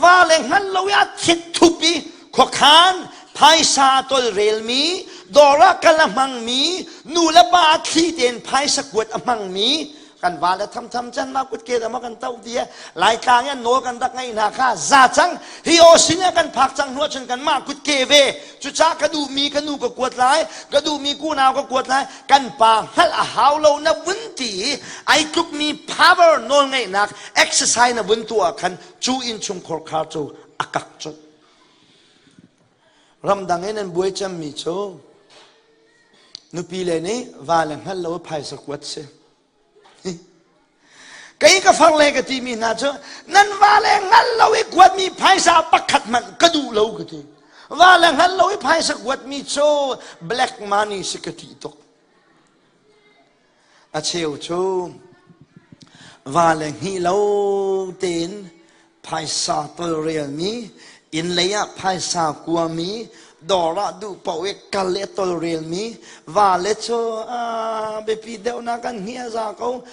va le hngal lo ah thit thup i khuakhan phaisa tolrelmi dawr ah kal a hmangmi nu le pa thli tein phaisa kuat a hmangmi kan va le thamtham can ma kut ke dama kan tau tie lai tlang in nawl kan dak ngai hna kha za cang hi o sin ah kan phak cang hnuah cun kan mah kut ke ve cuca ka duh mi ka nu ka kuat lai ka duh mi kunau ka kuat lai kan pa hngalh a hau lo na vun ti i ai tlukmi power nawlngeihnak exercise na vun tuah khan cu innchungkhar khar cu a kak cuh ramdang in an buai cemmi cu nupi le nih vale hngal lo phaisa kuat si Kei ka far le ka timi hna cu nan va le hngal lo i kuatmi phaisa pakhat hmanh ka duh lo ka ti. Va le hngal lo i phaisa kuatmi cu black money si ka ti tuk. A cheu cu va le hni lo tein phaisa tolrelmi innlei ah phaisa kuami dawr ah duh paoh i kal i tolrelmi vale cu biapi deuhnak an hniah za ko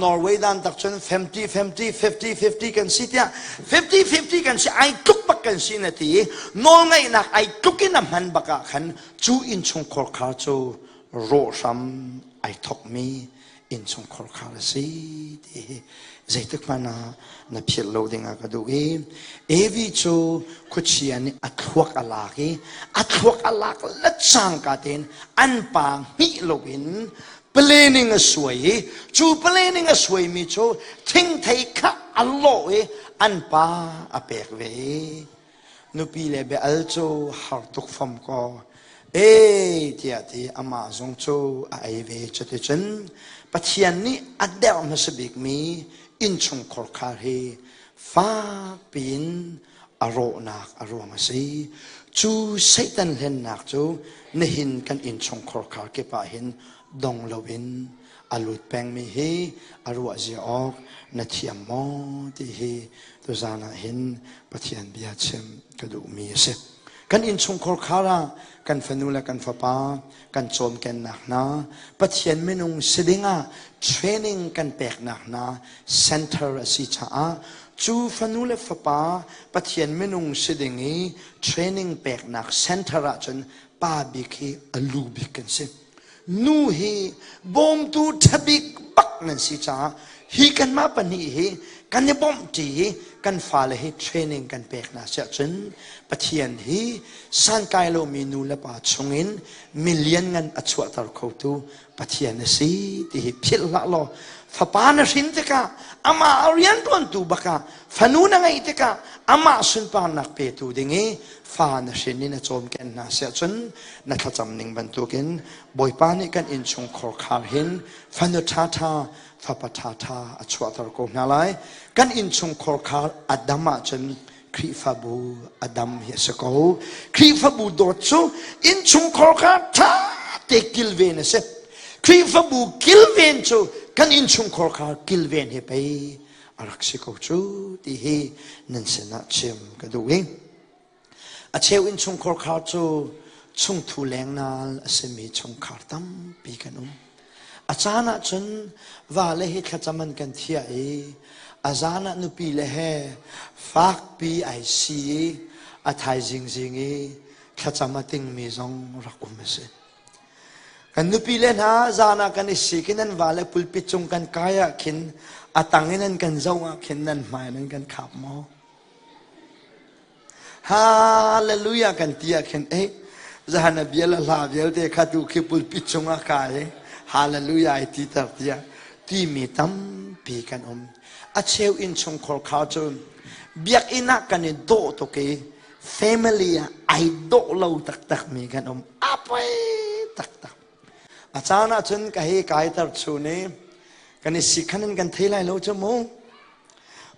norway dan tak cun 50 50 50 50 kan si tiah 50 50 kan si ai tluk bak kan si na ti nawlngaihnak ai tluk in a hman bak ah khan cu innchungkhar khar cu rawh hram ai thokmi innchungkhar kha ka si ti hi zeitik hmanh ah na philh lo dingah ka duh i evi cu khuachia nih a thluak a lak i a thluak a lak lacangka tein an pa hmih loin planning a suai i cu planning a suaimi cu thingthei kha a lawh i an pa a pek ve Nupi le bia-al cu har tuk fam kaw, e tiah ti amah zong cu a ei ve. Cuticun Pathian nih a derh hmasa bikmi innchungkhur khar hi fakpi in a rawhnak a ruang a si. Cu Satan hlennak cu nihin kan innchungkhur khar kip ah hin dong loin a lut pengmi hi a ruahzia awk na thiam maw ti hi tuzan ah hin Pathian bia chim ka duhmi a si. Kan innchungkhar khar ah kan fanu le kan fapa kan cawmkennak hna Pathian minung si ding ah training kan peknak hna center a si caah cu fanu le fapa Pathian minung si ding i training peknak center ahcun pa bik hi a lu bik kan si. Nu hi bawmtu ṭhabik bak nan si caah hi kanmah pahnih hi kan i bawmh ṭi i kan fale hi training kan pek hna si ahcun Pathian hi sankai lomi nu le pa chungin million ngan a chuahter khotu Pathian a si ti hi philh hlah law fapa na hrin tikah amah a rianṭuantu bakah fanu na ngeih tikah amah sunparnak petu ding i fa na hrin in a cawmken hna siah cun na thlacam ning bantukin Bawipa nih kan innchungkhar khar hin fanu ṭhaṭha fapa ṭhaṭha a chuahter ko hna lai kan innchungkhar khar a dam ahcun Khrihfabu a dam hi a si ko Khrihfabu dawt cu innchungkhar khar ṭha te kilven a si Khrihfabu kilven cu kan innchungkhar khar kilven he pei a rak si ko cu ti hi nan sinah chim ka duh i a cheu in chungkhar kha cu chungthu lengnal a simi chungkhar tampi kan um a caan ah cun vale hi thlacam an kan thiah i a zan ah nupi le he fakpi ai si i a thaizing zing i thlacam a tingmi zong rak um a si Kan nupile hna zan ah kan i sik i nan vale pulpit cung kan kai ah khin a tang in an kan zoh ah khin nan hmai in an kan khap maw? Hallelujah kan ti ah khin ei zan a bia le hla vialte kha tu khi pulpit cung ah kai i hallelujah ai ti ter tiah timi tampi kan um. A cheu inn chungkhar kha cun biakinn ah kan i dawh tuk i family ah ai dawh lo taktakmi kan um a poi taktak a caan ah cun ka hei kaiter chu ne kan i sikhan in kan thei lai lo cu mu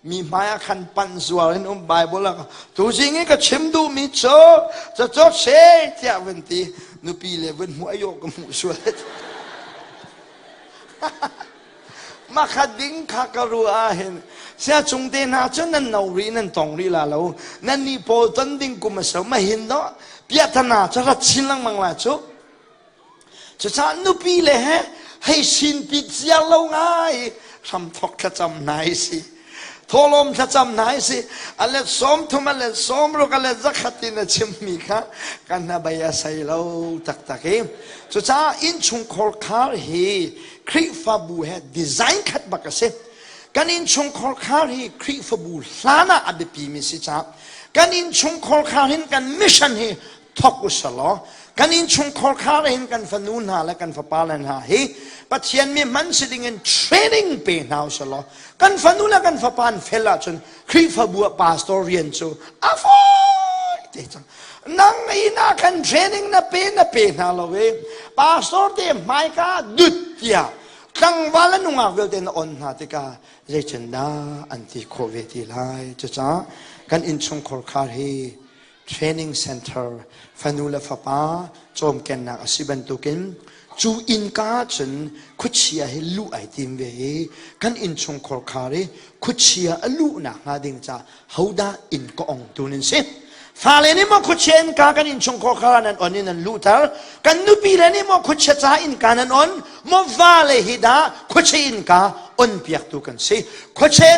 mi hmaiah khan panh zual in um bible ah tu jing i ka chim duhmi cu ca cu she tiah vun ti nupi le vun hmuh ayo ka hmuh sual Mahkhat ding kha ka ruah ahhin siacung te hna cu nan no rih nan tong rih la lo nan nih pawl ton ding kum a so mahin do piathana cu rat chin lengmang la cu cucaah nupi le he hei sin pit cia lo ngai hram thok thlacam hna i si thawlawm thlacam hna hi si a let sawm thum a let sawm ruk a let zakhat in a chim mi kha kan hna bei a sei lo taktak i cucaah innchungkhar khar hi khrihfabu he design khat bak a si kan innchungkhar khar hi khrihfabu hlan ah a biapi mi si ca kan innchungkhar khar hin kan mission hi thok usalaw kan innchungkhar kha in kan fanu hna le kan fapa le hna hi Pathian mi hman si dingin training pe hna usalaw kan fanu le kan fapa an fel ahcun Khrihfabu pastor rian cu a fawi te cang nang ina kan training na pe na pe hna lo e pastor te hmaika dut tiah tlangval a nungak vialte na on hna tikah zeitindah an ti khawh ve ti lai cucaah kan innchungkhar khar hi training center fanu le fapa cawmkennak a si bantukin cu innka ahcun khuachia hi luh ai tim ve i kan innchungkhar khar i khuachia a luhnak hnga ding ca hodah inn ka ong tun in si fale nih maw khuachia innka kan innchungkhar khar nan on in nan luhter kan nupile nih maw khuachia ca innka nan on maw vale hi dah khuachia innka on piaktu kan si khuachia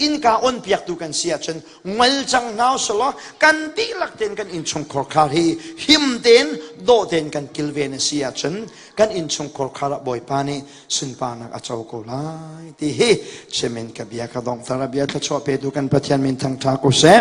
innka on piaktu kan si ahcun ngol cang hna selaw kan dihlak ten kan innchungkhar khar hi him ten daw ten kan kilven a si ahcun kan innchungkhar khar ah bawipa nih sunparnak a co ko lai ti hi chemen ka bia ka donghter a bia thluachuah pe tu kan pathian min thangtha ko seh